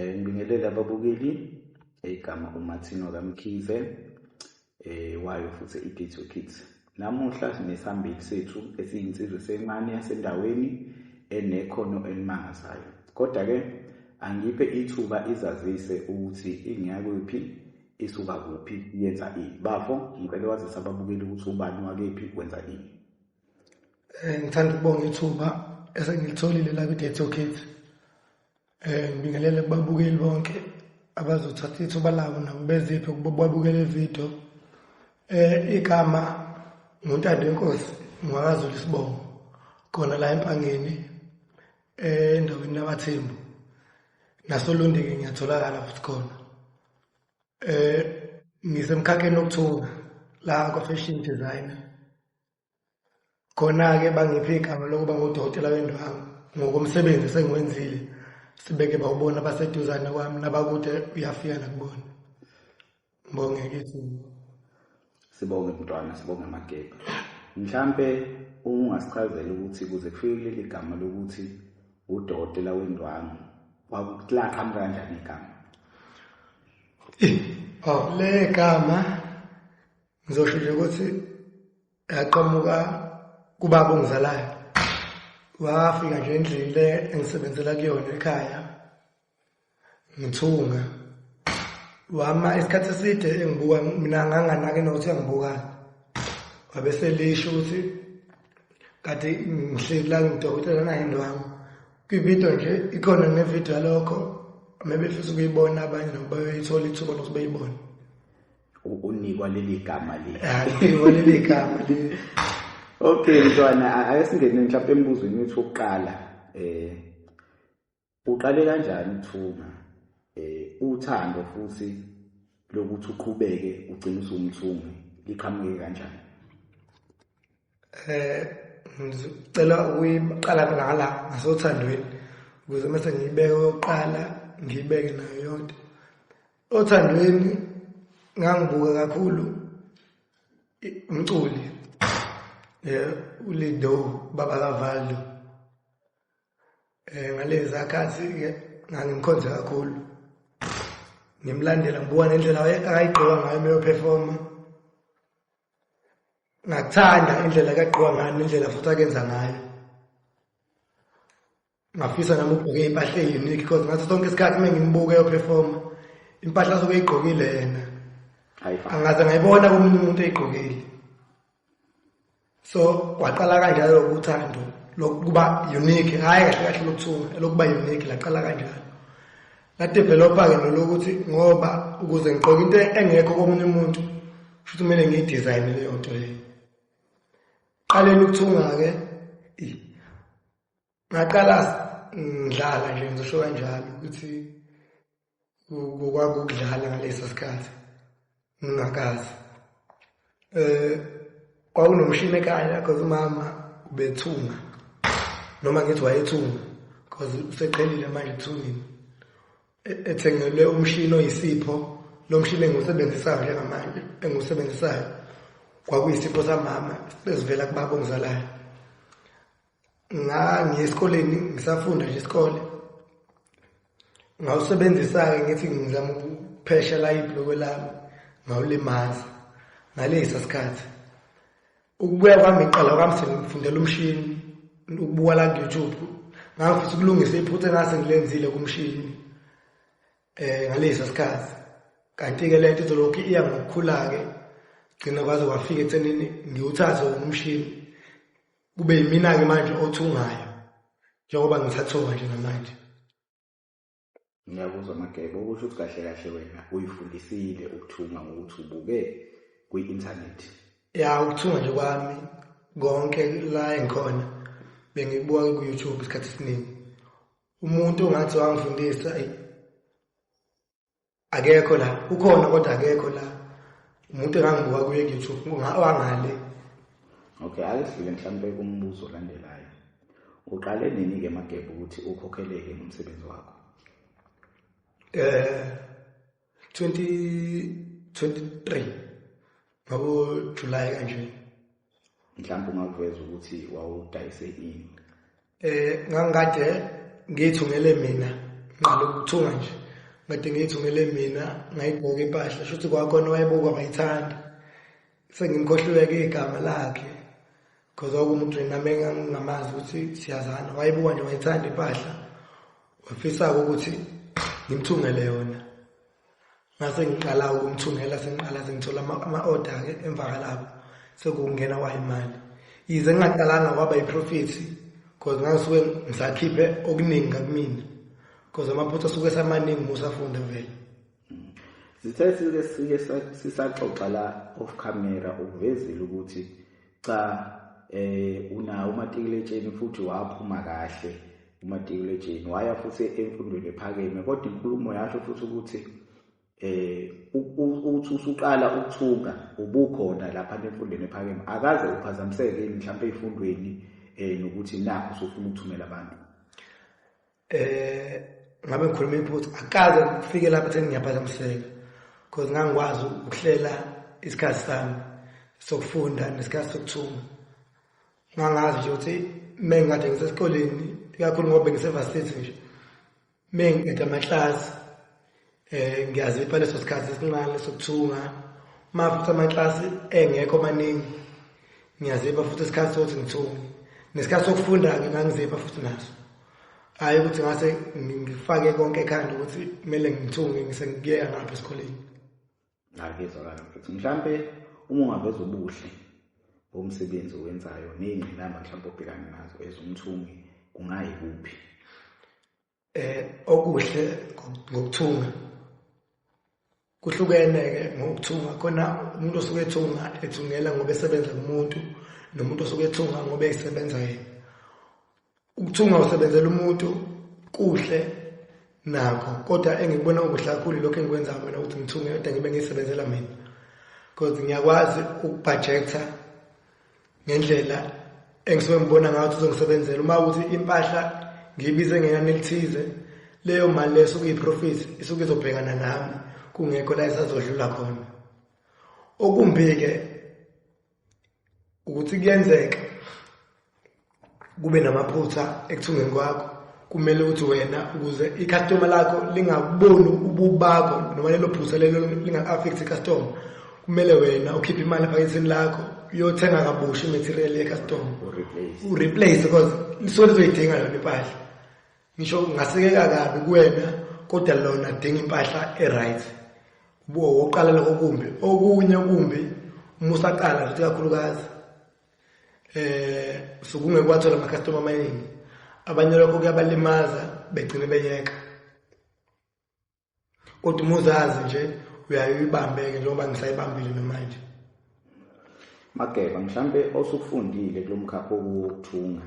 Eh ngibingelele ababukeli igama uMartino kaMkhize eh wayo futhi iGetto Kids. Namuhla sinesambili sethu esiyinsizwe sencane yasendaweni enekhono elimangazayo. Kodwa ke angiphe ithuba izazise ukuthi ingiyakuphi isuka kuphi yenza ini. Bafo ngicela wazisa ababukeli ukuthi ubani wakephi wenza ini. Eh, ngithanda ukubonga ithuba esengilitholile la kwi-day to kids um eh, ngibingelele kubabukeli bonke abazothatha ithuba labo nabo beziphe babukele ividiyo um eh, igama nguntando wenkosi ngwakazula isibongo khona la empangeni endaweni yabathembu nasolondeke ngiyatholakala futhi khona um ngisemkhakheni wokuthunga la kwa-fashion designer khona-ke bangiphe igama lokuba ngudokotela wendwangu ngokomsebenzi sengiwenzile sibeke bawubona baseduzane kwami nabakude uyafika nakubona ngibonge kithi sibonge mntwana sibonge amagebha mhlampe ungasichazela ukuthi kuze kufike kuleli gama lokuthi udokotela wendwangu wakulaxham kanjani igama eh, oh, le gama ngizosho nje ukuthi yaqhamuka kubaba ongizalayo wafika nje endlini le engisebenzela kuyona ekhaya ngithunga wama isikhathi eside engibuka mina nganganake nokuthi angibukani wabe selisho ukuthi kade ngihleli la ngidokotela nayini wami kwividiyo nje ikhona nevidiyo yalokho mebefisa ukuyibona abanye nabo bayoyithola ithuba lokuthi bayibone unikwa leli gama linikwa leli gama okay mntwana ake singene mhlawumbe embuzweni wethu wokuqala eh uqale kanjani ukuthunga eh uthando futhi lokuthi uqhubeke ugcine usumthungi liqhamuke kanjani eh ngicela ukuyiqala ngala ngasothandweni ukuze mase ngiyibeke yokuqala ngiyibeke nayo yonke othandweni ngangibuka kakhulu umculi eh uLido baba kaValdo eh ngalezi akhathi ke ngangimkhonze kakhulu ngimlandela ngibuka nendlela ayigqoka ngayo meyo performer ngathanda indlela kagqiwa ngayo nendlela futhi akenza ngayo ngafisa nami ukugqoke impahla e-unique because ngaso sonke isikhathi uma ngimbuke yophefoma impahla asuke eyigqokile yena angaze ngayibona komunye umuntu eyigqokile so kwaqala kanjalo lokuthando lokuba unique hhayi kahle kahle lokuthiwa elokuba unique laqala kanjalo Ngadevelopa-ke nolokuthi ngoba ukuze ngigqoke into engekho komunye umuntu futhi kumele ngiyidizayine leyo nto leyo qaleni ukuthunga-ke ngaqala ngidlala nje ngizosho kanjalo ukuthi kwakukudlala ngaleso sikhathi ngingakazi eh kwakunomshini ekhaya because umama ubethunga noma ngithi wayethunga because useqhelile manje ethungini e, ethengelwe umshini oyisipho lo mshini engiwusebenzisayo njengamanje engiwusebenzisayo kwakuyisipho samama bezivela kubaba ongizalayo ngangiye esikoleni ngisafunda nje isikole ngawusebenzisa-ke ngithi ngizama ukuphesha la ibhulokwe lami ngawulimaza ngalesa sikhathi ukubuya kwami iqala kwami sengifundela umshini ukubuka la ku-youtube ngangifisa ukulungisa iphutha engase ngilenzile kumshini um ngalesa sikhathi kanti-ke le nto izolokhu iya ngokukhula-ke gcina kwaze kwafika ekuthenini ngiwuthathe umshini kube yimina-ke manje othungayo njengoba ngisathunga nje namanje ngiyakuzwa magebo okusho ukuthi kahle kahle wena uyifundisile ukuthunga ngokuthi ubuke kwi-inthanethi ya ukuthunga nje kwami konke la engikhona bengikubuka ku-youtube isikhathi esiningi umuntu ongathi wangifundisa akekho la ukhona kodwa akekho la umuntu engangibuka kuye ku-youtube wangale okay ake sidlule mhlawumpe kumbuzo olandelayo uqale nini-ke magebe ukuthi ukhokheleke ngomsebenzi wakho eh 2023 ngabo July kanje mhlawumbe ungakuveza ukuthi wawudayise ini eh ngangikade ngiyithungele mina ngqala ukuthunga nje ngade ngiyithungele mina ngayibhoka impahla shuthi kwakhona wayebukwa ngayithanda sengimkhohluleke igama lakhe because okumuntu nami engingamazi ukuthi siyazana wayebukwa nje wayithanda impahla wafisa ukuthi ngimthungele yona ngase ngiqala ukumthungela sengiqala sengithola ama-order-ke emva kalapho sekungena wayimali yize ngingaqalanga kwaba yiprofethi because ngangisuke ngisakhiphe okuningi kakumina because amaphutha asuke samaningi musafunde vele sithe sike sike sisaxoxa la off camera ukuvezile ukuthi cha eh unawo umatikuletsheni futhi waphuma kahle umatikuletsheni waya futhi emfundweni ephakeme kodwa inkulumo yasho futhi ukuthi eh uthi usuqala ukuthunga ubukhona lapha emfundweni ephakeme akaze uphazamiseke mhlawumbe ezifundweni eh nokuthi nakho usufuna ukuthumela abantu eh ngabe ngikhuluma iphutha akaze ngifike lapho ekutheni ngiyaphazamiseka because ngangikwazi ukuhlela isikhathi sami sokufunda nesikhathi sokuthuma ngangazi nje ukuthi me ngikade ngisesikoleni ikakhulu ngoba bengisevasithe nje me ngiqeda amaklasi Eh ngiyazipha leso sikhathi esincane sokuthunga uma futhi amaklasi engekho maningi ngiyazipha futhi isikhathi sokuthi ngithunge nesikhathi sokufunda-ke ngangizipha futhi naso hhayi ukuthi ngase ngifake konke ekhanda ukuthi kumele ngithunge ngisengikuyeka ngapha esikoleni ngakuzwakala mfethu mhlawumpe uma ungaveza ubuhle bomsebenzi owenzayo ney'ngqinamba mhlawumpe obhekane nazo ezomthungi kungayikuphi eh okuhle ngokuthunga kuhlukene ke ngokuthunga khona umuntu osuke ethunga ethungela ngoba esebenza kumuntu nomuntu osuke ethunga ngoba esebenza yena ukuthunga usebenzela umuntu kuhle nakho kodwa engikubona okuhle kakhulu lokho engikwenza mina ukuthi ngithunge kodwa ngibe ngisebenzela mina because ngiyakwazi ukubhajektha ngendlela engisuke ngibona ngayo ukuthi uzongisebenzela uma ukuthi impahla ngiyibize ngenani elithize leyo mali leyo suke iyiprofit isuke izobhekana nami kungekho la isazodlula khona okumbi-ke ukuthi kuyenzeka kube namaphutha ekuthungeni kwakho kumele ukuthi wena ukuze i-customer lakho lingaboni ububakho noma lelo phutha lelo linga-affect i-customer kumele wena ukhiphe imali ephakethini lakho uyothenga kabusha i-material ye-customer ureplace because lisuke lizoyidinga yona impahla ngisho ungasekeka kabi kuwena kodwa lona dinga impahla e-right ubuwo woqala lokho kumbi okunye kumbi uma usaqala futhi kakhulukazi eh sukunge kwathola ama customer amaningi abanye lokho kuyabalimaza begcine beyeka kodwa uma uzazi nje uyayibambeke njengoba ngisayibambile namanje mageba mhlambe osufundile kulomkhakha wokuthunga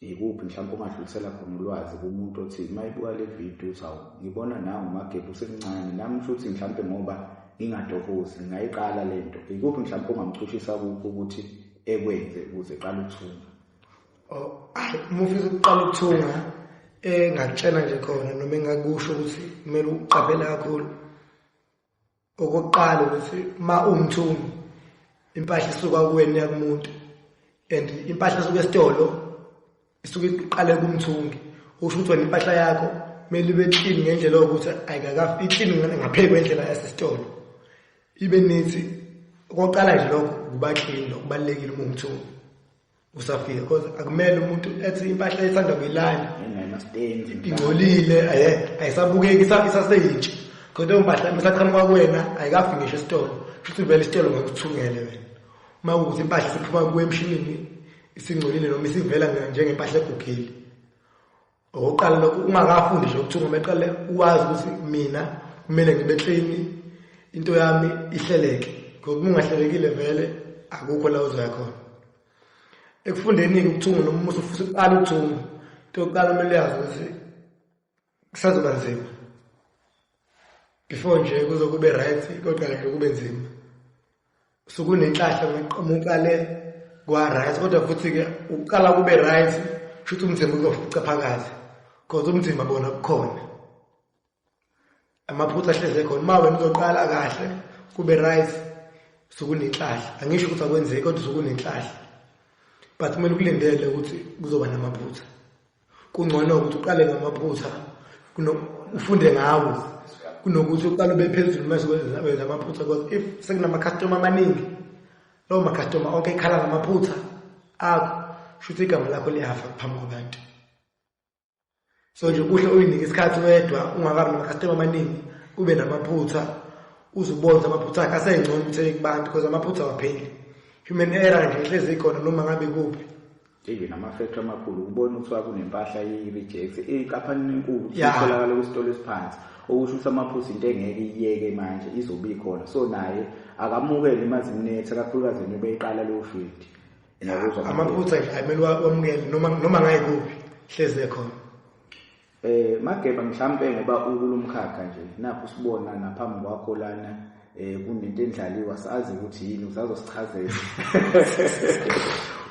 yikuphi mhlawumbe ungadlulisela khona ulwazi kumuntu othi uma ibuka le video uthi awu ngibona nawe umagebhe usemncane nami kusho ukuthi mhlawumbe ngoba ngingatohozi ngingayiqala le nto yikuphi mhlawumbe ongamchushisa kukho ukuthi ekwenze ukuze eqale ukuthunga oh, uma ufisa ukuqala ukuthunga engatshela nje khona noma engakusho ukuthi kumele uqaphele kakhulu Okokuqala ukuthi uma uwumthungi impahla isuka kuwena iya kumuntu and impahla esuka esitolo isuke iqale kumthungi usho ukuthi wena impahla yakho kumele ibe clean ngendlela yokuthi ayikakafi iclean ngaphezu kwendlela yasesitolo ibe nithi okokuqala nje lokho kuba clean lokubalulekile uma umthungi usafika because akumele umuntu ethi impahla ethanda kuyilanda ingcolile aye ayisabukeki isaseyintsha kodwa impahla misaqhamuka kuwena ayikafi ngisho esitolo futhi vele isitolo ngokuthungele wena uma ukuthi impahla siphuma kuwe emshinini isingcolile noma isivela njengempahla egugile okokuqala lokho ungakafundi nje ukuthunga meqale uwazi ukuthi mina kumele ngibe clean into yami ihleleke ngoba ungahlelekile vele akukho la uzoya khona ekufundeni ukuthunga noma umuntu ufisa ukuqala ukuthunga into yokuqala kumele yazi ukuthi kusazoba nzima before nje kuzokuba right kodwa nje kube nzima sukunenhlahla kuqhamuka le kwa-right kodwa futhi-ke ukuqala kube right shuthi umzimba uzofica phakathi cause umzimba bona kukhona amaphutha ahleze khona uma wena uzoqala kahle kube right sukunenhlahla angisho ukuthi akwenzeki kodwa sukunenhlahla but kumele ukulindele ukuthi kuzoba namaphutha kungcono ukuthi uqale ngamaphutha ufunde ngawo kunokuthi uqale ube phezulu mase wenza amaphutha because if sekunamakhastoma amaningi lowo makhastoma onke ikhala ngamaphutha akho shuthi igama lakho liyafa phambi kwabantu so nje kuhle uyinike isikhathi wedwa ungakabi namakhastoma amaningi ube namaphutha uzubonza amaphutha akhe asengcono ukuthi kubantu because amaphutha awapheli human error nje hlezi ikhona noma ngabe kuphi even amafactory amakhulu ukubona kuthiwa kunempahla i-rejects inkampani enkulu itholakala kwisitolo esiphansi okusho ukuthi amaphusi into engeke iyeke manje izobe ikhona so naye akamukele imaziminetha kakhulukazi nje beyiqala leyo field amaphutha nje ayimele wamukele noma noma ngayikuphi hlezi ekhona Eh Mageba mhlambe ngoba ukulomkhakha nje nakho sibona naphambi kwakho lana eh kunento endlaliwa sazi ukuthi yini uzazosichazela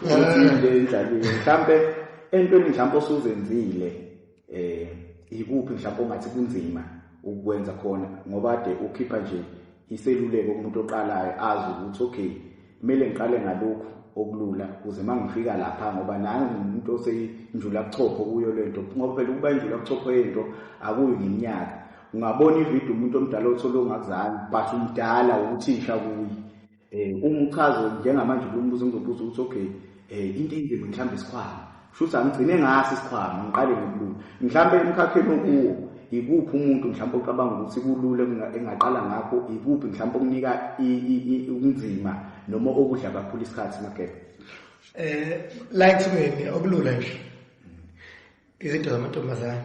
ukuthi into endlaliwe mhlambe entweni mhlambe osuzenzile eh ikuphi mhlambe ongathi kunzima ukwenza khona ngoba ade ukhipha nje iseluleko kumuntu oqalayo azi ukuthi okay kumele ngiqale ngalokhu okulula kuze uma ngifika lapha ngoba nami ngimuntu oseyinjula kuchopho kuyo le nto ngoba phela ukuba injula kuchopho yento akuyo ngeminyaka ungabona ividiyo umuntu omdala othole ongakuzange but umdala uthisha kuye um uma uchaze njengamanje kulombuzo ngizobuza ukuthi okay Eh into enzima mhlambe isikhwama. Shuthi angigcine ngaso isikhwama ngiqale ngokulula. Mhlambe emkhakheni okuwo ikuphi umuntu mhlawumbe ocabanga ukuthi kulula engaqala ngakho ikuphi mhlawumbe okunika ubunzima noma okudla kakhulu isikhathi magebe eh la ekuthumeni okulula nje izinto zamantombazane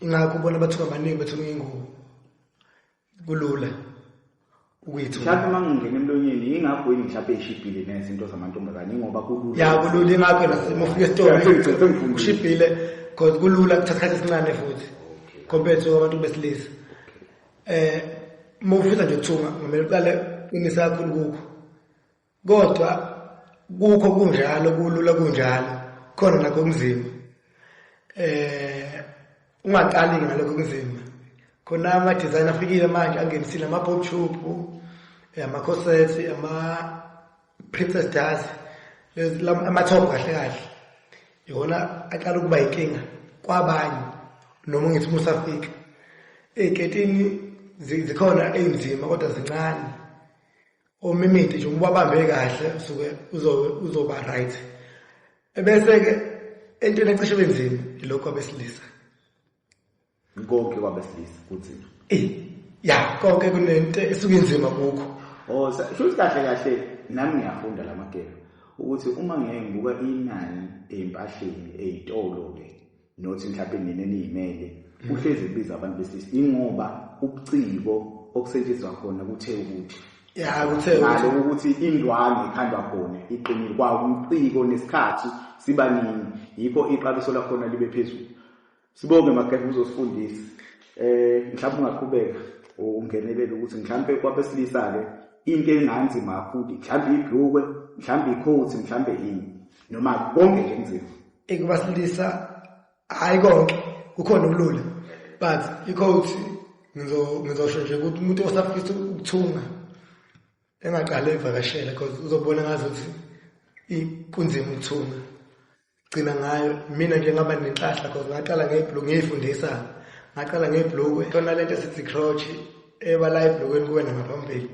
ingakho ubona bathuka abaningi bethuka ingubo kulula ukuyithola mhlawumbe uma ngingena emlonyeni yingakho yini mhlawumbe ishibhile neze into zamantombazane ingoba kulula ya kulula ingakho nasimo ufika esitolo ushibhile because kulula kuthatha isikhathi esincane futhi compared to abantu besilisa eh uma ufisa nje ukuthunga ngamele uqale inisa kakhulu kukho Kodwa kukho kunjalo kulula kunjalo khona nakho kunzima. Eh ungaqali ngalokho kunzima. Khona ama design afikile manje angenisile ama pop tube, eh, ama corsets, ama princess dance, ama top kahle kahle. Yona aqala ukuba inkinga kwabanye noma ngithi musafika. Eziketini zikhona ezinzima kodwa zincane. omimiti nje uma babambe kahle usuke uzoba right ebese-ke entweni ecishe benzima ilokhu abesilisa konke kwabesilisa kunzima eyi ya konke kunento esuke inzima kukho o oh, shuthi kahle kahle nami ngiyafunda la magelo ukuthi uma ngeke ngibuka inani ezimpahleni ezitolo-ke nothi mhlawumbe nina eniyimele uhlezi ebiza abantu besilisa ingoba ubuciko okusetshenziswa khona kuthe ukuthi ya kuthe ngalo ukuthi indwangu ikhandwa khona iqinile kwa umciko nesikhathi sibaningi yikho iqabiso lakhona libe phezulu sibonge magefa uzosifundisa eh mhlawumbe ungaqhubeka ungenelele ukuthi mhlawumbe kwabesilisa ke into enganzima kakhulu mhlawumbe ibhlukwe mhlawumbe ikhothi mhlawumbe yini noma konke nje nzima ikubasilisa hayi konke kukhona ubulula but ikho ukuthi ngizosho nje ukuthi umuntu osafisa ukuthunga engaqale evakashela because uzobona ngazi ukuthi kunzima ukuthunga gcina ngayo mina nje ngaba nenhlahla because ngaqala ngebhulu ngiyifundisa ngaqala ngebhulukwe khona lento esithi crotch ebala ebhulukweni kuwena ngaphambili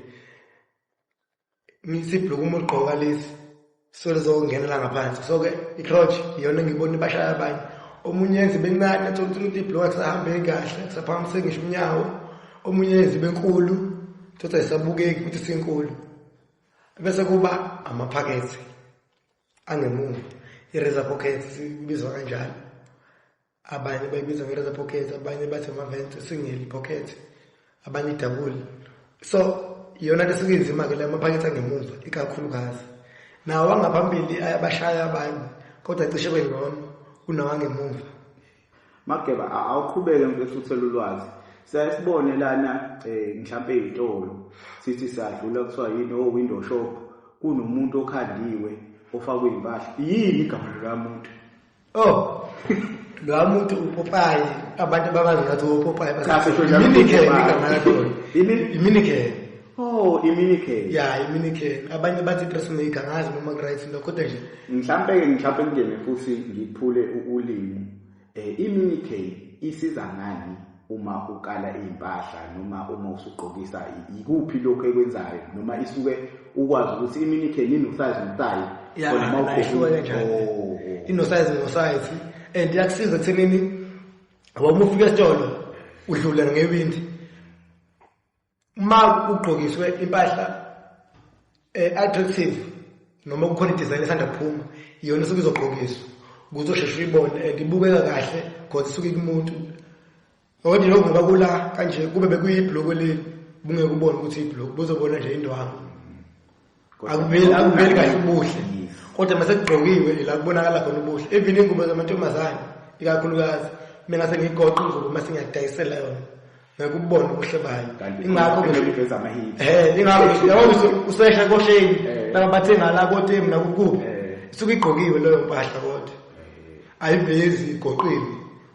Sibhluku uma ugqoka lesi sole zokungenela ngaphansi so ke i-crotch iyona engibona ibashaya abanye omunye yenza ibe ncane athola ukuthi umuntu ibhluka kusahambeki kahle kusaphakamise ngisho unyawo omunye yenza ibe nkulu thothi ayisabukeki ukuthi sinkulu bese kuba amaphakethe angemuva i-razor pocket sibizwa kanjalo abanye bayibiza nge-razor pocket abanye bathi ama-vent single pocket abanye idabuli so iyona nto esuke inzima-ke le amaphakethi angemuva ikakhulukazi nawo angaphambili ayabashaya abanye kodwa cishe kwengcono kunawangemuva mageba awuqhubeke mfethu uthela ulwazi siyaye sibone lana um mhlawumpe ey'tolo sithi siyadlula kuthiwa yini o-window oh, shop kunomuntu okhandiwe ofakwe iy'mpahla yini igama likamuntu oh lowa muntu upopayi abantu babazi ngathi upopayi iminikele Oh, iminikele. Yeah, iminikele. Abanye bathi personally kangazi noma right lokho kodwa nje. Mhlambe ke mhlambe ngene futhi ngiphule ulimi. Eh iminikele isiza ngani? uma ukala iy'mpahla noma uma usugqokisa yikuphi lokhu ekwenzayo noma isuke ukwazi ukuthi iminike nini usayizi umtayi khona uma ukhona oh. inosayizi nosayizi and iyakusiza ekuthenini ngoba uma ufika esitolo udlulele ngewindi uma ugqokiswe impahla eh, attractive noma kukhona idesign esanda kuphuma iyona isuke izogqokiswa ukuze usheshe uyibone and ibukeka kahle because isuke kumuntu ngokuthi lokhu ngoba kula kanje kube bekuyibhloko leli bungeke ubone ukuthi ibhloko buzobona nje indwangu akuveli akuveli kahle ubuhle kodwa mase kugqokiwe ila kubonakala khona ubuhle even ingubo zamantombazane ikakhulukazi mina sengigoqa ingubo mase ngiyadayisela yona ngekubona ubuhle bayo ingakho ngiveza ama hit eh ingakho yabona usesha kosheni eh. laba bathenga la kotemu nakukuphi eh. isuke igqokiwe leyo mpahla kodwa eh. ayivezi igoqile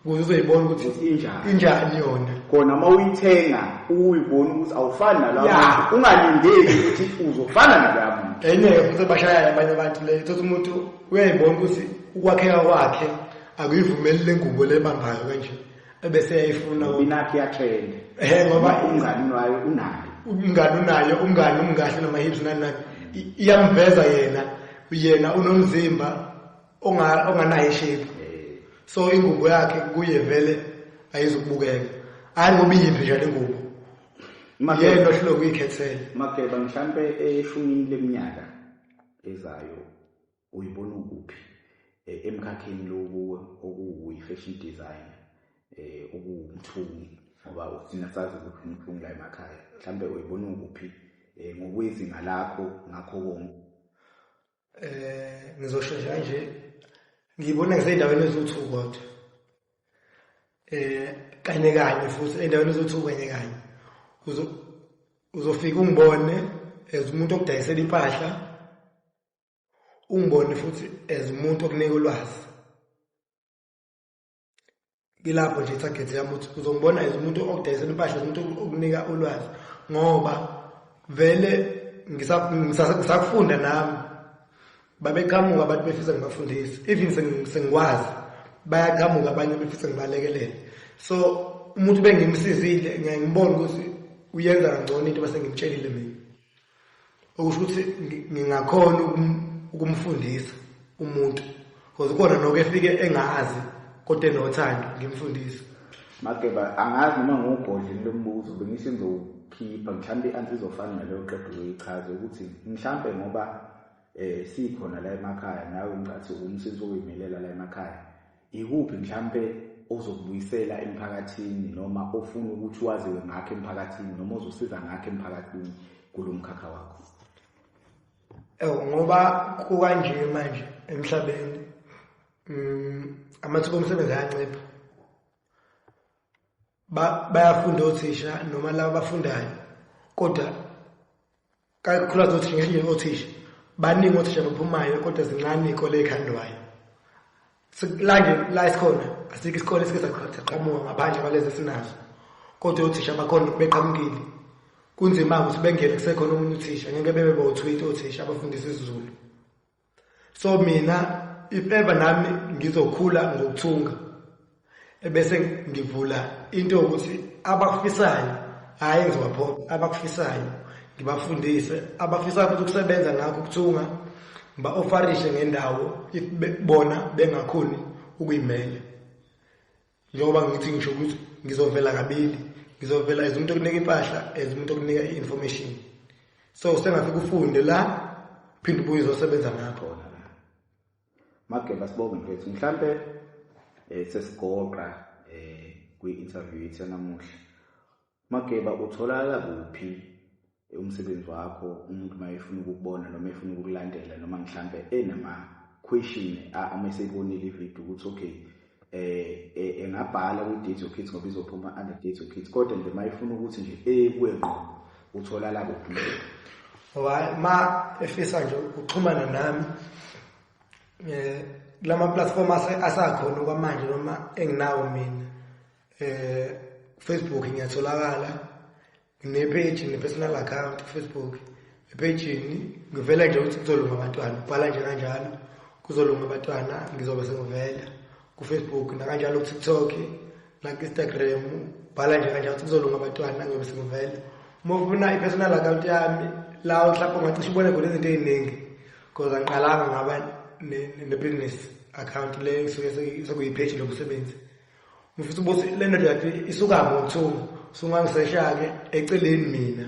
kuze uzoyibona ukuthi injani injani yona kona uma uyithenga uyibona ukuthi awufani nalabo yeah. ungalindeli ukuthi uzofana nalabo enye futhi abashayela abanye abantu le thothi umuntu uyayibona ukuthi ukwakheka kwakhe akuyivumeli lengubo lebambayo kanje ebese yayifuna ubinakhe yathende ehe ngoba umngani wayo unayo umngani unayo umngani umngahle noma hips nani nani iyamveza yena yena unomzimba onga onganayo ishape eh. so ingubo yakhe kuye vele ayizukubukeka hayi ngoba iyiphi njalo ingubo yena ohluleka uyikhethela mageba mhlampe eshumini leminyaka ezayo uyibona ukuphi eh, emkhakheni lokuwe okuwuyi-fashion design eh okuwumthungi ngoba uthina sazi ukuthi umthungi la emakhaya mhlambe uyibona ukuphi eh ngokwezinga lakho ngakho konke eh ngizoshesha kanje ngibona ngisendaweni ezothu kodwa eh kanye kanye futhi endaweni ezothu kanye kanye uzo uzofika ungibone as umuntu okudayisela impahla ungibone futhi as umuntu okunika ulwazi ngilapho nje target yami ukuthi uzongibona as umuntu okudayisela impahla umuntu okunika ulwazi ngoba vele ngisakufunda nami babeqhamuka abantu befisa ngibafundise even sengikwazi bayaqhamuka abanye befisa ngibalekelele so umuntu bengimsizile ngiyangibona ukuthi uyenza kangcono into base ngimtshelile mina okusho ukuthi ngingakhona ukumfundisa umuntu because khona noke efike engazi kodwa enothando ngimfundise mageba angazi noma ngubhodlini lombuzo bengithi ngizowukhipha mhlawumbe i-ansi izofana naleyo qeda uyoyichaze ukuthi mhlawumbe ngoba um sikhona la emakhaya nawe ngicathi umsisi oyimelela la emakhaya Yikuphi mhlampe ozokubuyisela emphakathini noma ofuna ukuthi waziwe ngakho emphakathini noma ozosiza ngakho emphakathini kulo mkhakha wakho? Ewu ngoba kukanje manje emhlabeni mm, amathuba omsebenzi ayancipha bayafunda othisha noma laba bafundayo kodwa kakhulu azothi ngisho ngothisha baningi othisha baphumayo kodwa zincane ikole ekhandwayo sikulande la isikhona asikho isikole esike saqhamuka ngaphandle kwalezi esinazo kodwa othisha bakhona beqhamukile kunzima ukuthi bengele kusekhona omunye uthisha ngeke bebe bawuthwitha othisha abafundisa isiZulu so mina if ever nami ngizokhula ngokuthunga ebese ngivula into yokuthi abakufisayo hhayi ngizobaphona abakufisayo ngibafundise abafisayo futhi ukusebenza ngakho ukuthunga ngiba-ofarishe ngendawo if bona bengakhoni ukuyimela njengoba ngithi ngisho ukuthi ngizovela kabili ngizovela as umuntu okunika impahla as umuntu okunika i-information so sengafika ufunde la phinde ubuye uzosebenza ngakhona mageba sibonge mfethu mhlampe um sesigoqa um kwi-interview yethu yanamuhla Mageba utholakala kuphi umsebenzi wakho umuntu uma efuna ukukubona noma efuna ukukulandela noma mhlampe enama question uma eseyibonile ivideo ukuthi okay eh, eh engabhala ku date your kids ngoba izophuma under date your kids kodwa nje mayifuna ukuthi nje ekuwe ngqo utholala kuphi wayi ma efisa nje ukuxhumana nami eh lama platform asakhona kwamanje noma enginawo mina eh Facebook ngiyatholakala ngine page ne personal account Facebook ephejini ngivela nje ukuthi kuzolunga abantwana ubhala nje kanjalo kuzolunga abantwana ngizobe sengivela kufacebook nakanjalo kutiktok nakuinstagram bhala nje kanjalo ukuthi kuzolunga abantwana ngiyobe sengivela uma ufuna i-personal account yami la mhlawumbe ungacishe ubone khona izinto ey'ningi because angiqalanga ngaba ne-business account le sekuyipheji lomsebenzi Ngifisa ukuthi le ndoda yakhe isuka ngothuku sungangiseshake eceleni mina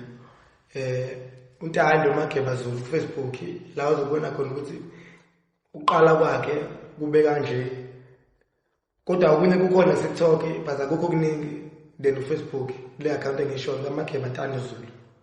eh untando mageba zulu ku Facebook la uzobona khona ukuthi uqala kwakhe kube kanje kodwa okunye kukhona kuTikTok but akukho kuningi then uFacebook le account engisho kaMageba Ntando Zulu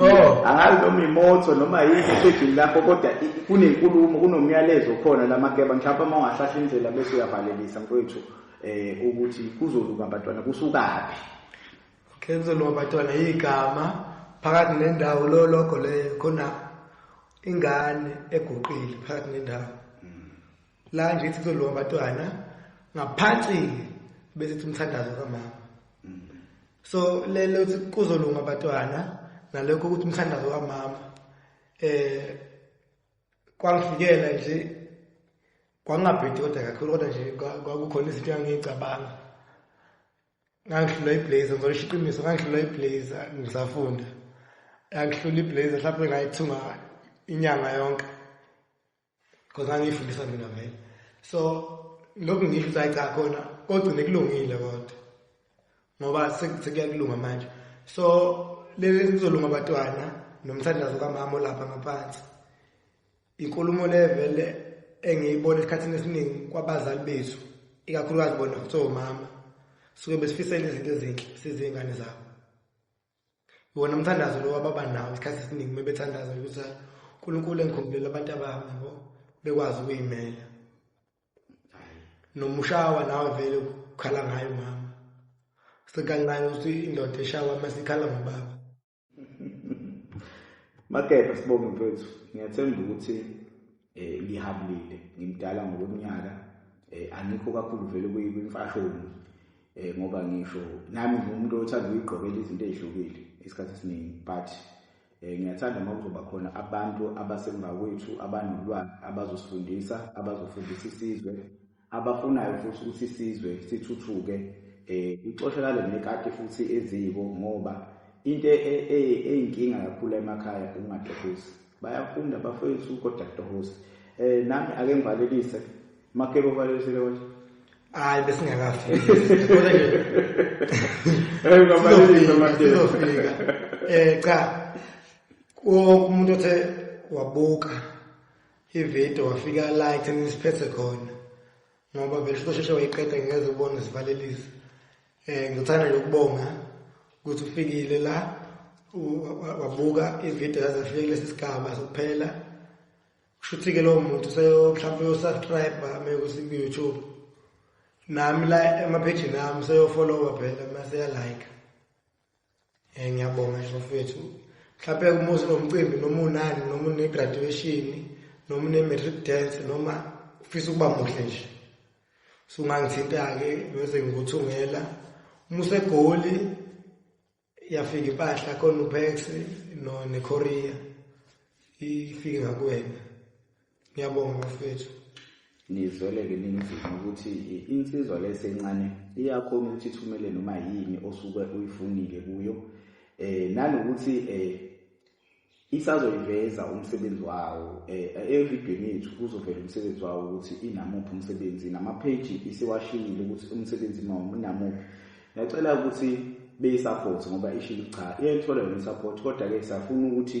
oh angazi noma imoto noma yini esedlini lapho kodwa kunenkulumo kunomyalezo khona lamakeba mhlawumbe uma ungahlahla indlela bese uyavalelisa mfowethu eh ukuthi kuzoluka abantwana kusukaphi kuzoluka abantwana igama phakathi nendawo lo logo leyo khona ingane eguqile phakathi nendawo la nje ithi kuzolowa amatwana ngaphansi besithi umthandazo kamama so lelo ukuthi kuzolunga abatwana nalokho ukuthi umthandazo kamama eh kwangifikela nje kwangabhedi kodwa kakhulu kodwa nje kwakukhona izinto engangiyicabanga ngangihlula iblazer ngizosho iqiniso ngangihlula iblazer ngisafunda yangihlula iblazer mhlawumbe ngayithunga inyanga yonke Because ngangifundisa mina vele. So lokhu ngisho ukuthi cha khona kogcine kulungile kodwa. Ngoba sekuyakulunga manje. So leli sizolunga abatwana nomthandazo kamama olapha ngaphansi. Inkulumo levele engiyibona esikhathini esiningi kwabazali bethu ikakhulukazi bona kuthiwa umama suke besifisela izinto ezinhle sizingane zabo wona umthandazo lo wababa nawo isikhathi esiningi uma bethandaza ukuthi unkulunkulu engikhumbulele abantu abami yabo bekwazi ukuyimela noma ushawa nawe vele ukukhala ngayo mama sekancane ukuthi indoda eshawa uma sikhala ngobaba makepha sibonge mfethu ngiyathemba ukuthi eh lihambile ngimdala ngokweminyaka eh angikho kakhulu vele kuyimfashoni eh ngoba ngisho nami ngumuntu othanda ukugqokela izinto ezihlukile isikhathi esiningi but eh ngiyathanda uma kuzoba khona abantu abasemva kwethu abanolwazi abazosifundisa abazofundisa isizwe abafunayo futhi ukuthi isizwe sithuthuke um ixoshelale nekati futhi eziko ngoba into e, e, e, eyinkinga kakhulu emakhaya ukungatohosi bayafunda bafowethu kodwa kutohosi um nami ake ngivalelise makebo valelise lekoe hayi besingakafiki um cha umuntu othe wabuka ividiyo wafika la ekuthenini siphethe khona ngoba vele sizosheshe wayiqeda ngingeze ubone sivalelise um eh, ngithanda nje ukubonga ukuthi ufikile la wabuka ividiyo yaze afike kulesi sigaba sokuphela kusho ukuthi-ke lowo muntu seyo mhlawumpe uyosubscribe mekuthi ku-youtube nami la emaphejini ami seyofollowa phela maseyalike Eh, ngiyabonga nje mfethu mhlawumpe umuzi nomcimbi noma unani noma une-graduation noma une-matric dance noma ufisa ukuba muhle nje sungangithinta-ke bese ngikuthungela uma usegoli yafika impahla khona upex no nekorea ifike ngakuwena ngiyabonga bafethu nizweleke ninzima ukuthi insizwa lesencane iyakhona ukuthi ithumele noma yini osuke uyifunile kuyo eh nanokuthi eh isazoyiveza umsebenzi wawo eh evidweni yethu kuzovela umsebenzi wawo ukuthi inamuphi umsebenzi namapage isiwashiyile ukuthi umsebenzi mawo unamuphi ngiyacela ukuthi beyisaphothe ngoba ishilo cha iyayithola yona isupport kodwa-ke safuna ukuthi